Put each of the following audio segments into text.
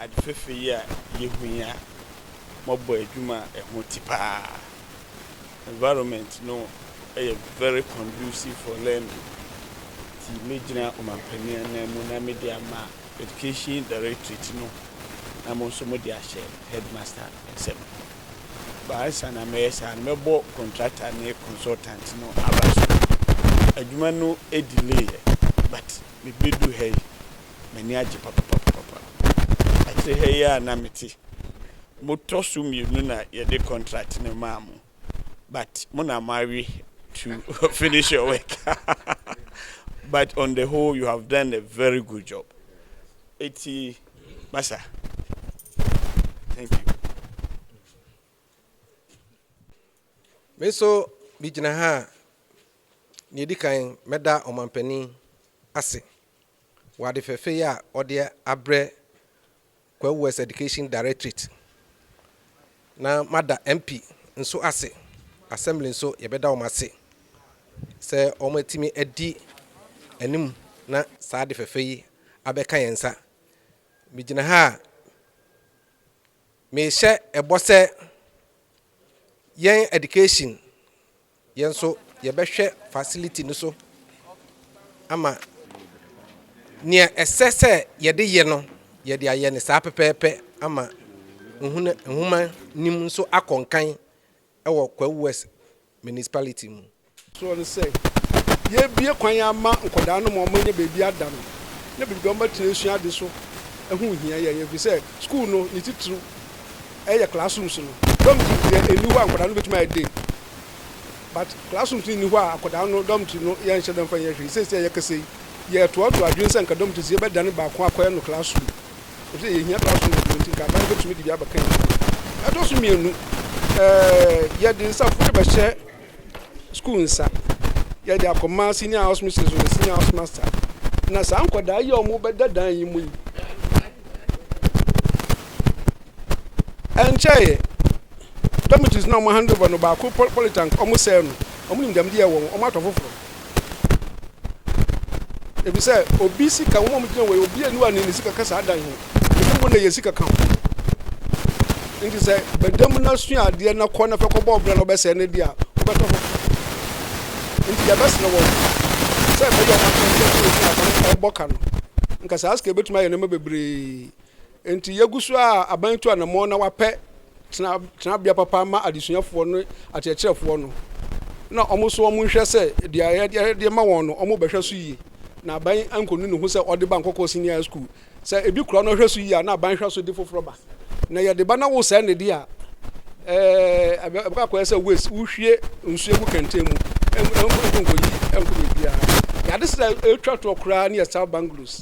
Ade fafɛ yi a yehui a moabɔ adwuma a ɛho te paa. Environment no yɛ very conducive for learning nti mɛgyina Ɔmanpanin ananmu na mede ama Education Directorate no na mo nso mode ahyɛ Headmaster nsam. Ba ansa na mɛyɛ saa no, mɛbɔ contractor ne consultant no aba. So adwuma no delay ɛ? But mebeduu ha yi, m'ani agye papapapapa. Akyire ha yi ara na mete. Motɔ so mmienu na yɛde contract no maa mo. But mo na moawe to finish your work. But on the whole, you have done a very good job. Eti. Basa. Thank you. Me nso megyina ha a nea ɛdi kan mɛda ɔmampanin ase wɔ ade fɛfɛ yi a ɔde abrɛ Kwawu West Education Directorate na mada MP nso ase assembly nso yɛbɛda wɔn ase sɛ wɔatumi adi anim na saa ade fɛfɛ yi abɛka yɛn nsa. Migyina ha a, mehyɛ ɛbɔ sɛ yɛn education, yɛn nso yɛbɛhwɛ facility no so ama nea ɛsɛ sɛ yɛde yɛ no, yɛde ayɛ no saa pɛpɛɛpɛ ama nhuna- nhomanim nso akɔ nkan wɔ Kwawu West municipality mu. Soɔ no sɛ yɛbue kwan ama nkwadaa no ma wɔanya baabi ada no ne biribi a wɔbɛtena asua ade so ho hia yɛn ɛfiri sɛ sukuu no ne titiriw yɛ classrooms no. Dormitories deɛ ɛnni hɔ a nkwadaa no bɛtumi ayɛ day but classrooms no nni hɔ a akwadaa no dormitory no yɛnhyɛ da mfa nyɛ hwee. Seesei a yɛkasa yi yɛtoatoa adwene sɛ anka dormitories yɛbɛdane baako akɔyɛ no classroom. efisɛ yehia bere asom Yehowa nti, Nkaebɔ no betumi de bi abɛka yɛn adwene ho. Ɛtɔ so mmienu, yɛde nsa foforo bɛhyɛ sukuu nsa, yɛde akɔma senior house mistress ne senior house master, na saa nkwadaa yi a wɔbɛda dan yi mu yi, ɛnkyɛe dormitories na wɔn handover no baako polytank wɔsɛe no, wɔn nimdeɛ wɔn wɔn ato foforo. Efisɛ obi sika, wɔn a wɔgyina wɔ yi, obi ani wa ne ne sika kasa adan ho. Ebi mpo na yɛ sika ka ho. Nti sɛ bɛda mu na sua adeɛ na kɔ na fɛ kɔbɔ ɔbra na ɔbɛsɛe ne deɛ a, wobɛtɔ ho. Nti yɛbɛsrɛ wɔn sɛ ɛbɛyɛ ɔma sɛ sɛ ɛbɔ ka no. Nka saa sika bɛtumi ayɛ nneɛma bebree. Enti yegu so ara a aban tu anammɔn na wɔapɛ tenabea papa ama adesuafoɔ ne akyerɛkyerɛfoɔ no, na wɔn nso wɔnhwɛ sɛ deɛ yɛde rema wɔn no, wɔbɛhwɛ so yie, na aban ankɔnu ne ho sɛ ɔde ba Nkɔkɔɔ Senior High School. Sɛ ebi kura na ɔhwɛ so yie a, na aban hwɛ so de foforɔ ba. Na yɛde ba na wosɛe no deɛ a, ɛɛ, ɛbɛkɔ akɔyɛ sɛ waste, wohwie nsuo gu kɛntɛn mu, ɛnkɔ nkɔyi nkɔ baabiara. Yɛade sɛ ɛtwa toɔ koraa ne yɛ South Banglos.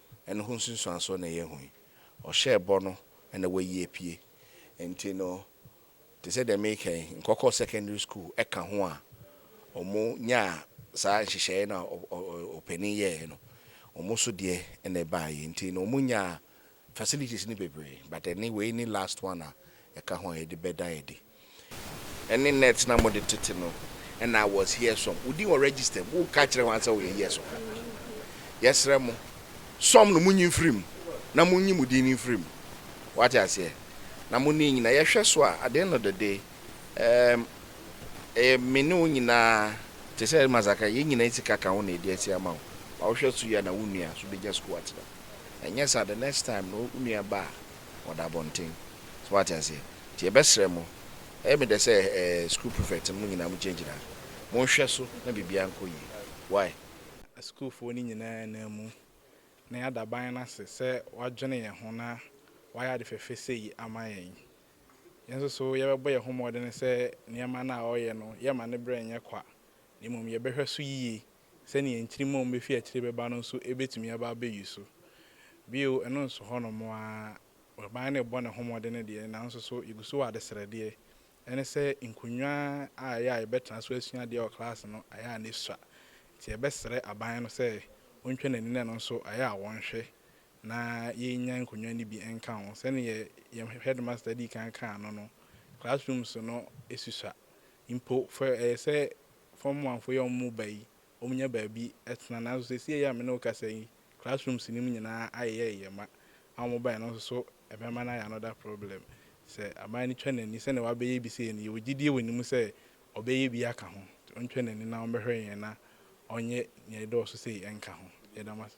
no ho nsunsuansoɔ na ɛyɛ hu yi. Ɔhyɛɛ bɔ no na wayi apue. Nti no, te sɛ deɛ mereka yi, nkɔkɔɔ secondary school ka ho a wɔnyaa saa nhyehyɛeɛ no a ɔpanin yɛeɛ no, wɔn nso deɛ na ɛbaeɛ. Nti no, wɔnyaa facilities no bebree, but ɛne wei ne last one a ɛka ho a yɛde bɛda adi. Ɛne net na mode tete no na I was here som wo din wɔ register mu wo ka kyerɛ wɔn sɛ woyɛ years of admin yɛsrɛ mo som no monyi mfiri mu na monyi mo din no mfiri mu wate aseɛ na mo ne nyina yɛhwɛ so a at the end of the day ɛɛm ɛyɛ me ne wo nyinaa te sɛ masaka yɛn nyina sika ka ho na ɛdi asi ama wo ma wohwɛ so yɛ na wo nua so bɛgya sukuu atena ɛnyɛ saa the next time no wo nua ba a wɔda abɔnten. So wate aseɛ? Nti yɛbɛsrɛ mo, ɛyɛ me dɛ sɛ ɛɛ sukuu prefect no, mo nyinaa mo gyinagyina ha. Monhwɛ so na biribiara nkɔ yie. Wai? Asukuufoɔ no nyinaa anna mu, na yɛada ban no ase sɛ wadwene yɛn ho na wayɛ ade fɛfɛ sei ama yɛn. Yɛn nso so yɛbɛbɔ yɛn ho mmɔden sɛ nneɛma no a ɔreyɛ no, yɛremma ne berɛ nyɛ kwa, na mmom yɛbɛhwɛ so yie Sɛnea nkyirimma a wɔbefi akyiri bɛba no nso betumi aba abeyi so. Bio, ɛno nso hɔnom ara, ɔbaa no rebɔ ne ho mmɔden deɛ, nanso so yegu so wɔ adesrɛdeɛ? Ɛne sɛ, nkonnwa a ɛyɛ a yɛbɛtena so asua adeɛ wɔ klaase no, ayɛ a na esua. Enti yɛbɛsrɛ aban no sɛ ontwa n'ani na ɛno nso ayɛ a wɔnhwɛ na yennya nkonnwa no bi nka ho. Sɛnea yɛn headmaster dii kan kaa no no, classrooms no susua. Mpo, fa ɛyɛ sɛ fam manfo yɛ wɔn mu ba yi, wɔnya baabi tena. Nanso seesei yi a me ne wo rekasa yi, classrooms no mu nyinaa ayeyɛyeyɛ ma. A wɔbae no nso so, ɛbɛma no ayɛ another problem. Sɛ aban no twa n'ani, sɛnea wabɛyɛ bi sei no, yɛwɔ gyidie wɔ ne mu sɛ ɔbɛyɛ bi aka ho. Ɔntwa n'ani na ɔmmɛhwɛ yɛn na ɔnyɛ nea ɛdɔɔso sei nka ho. Yɛda mo ase.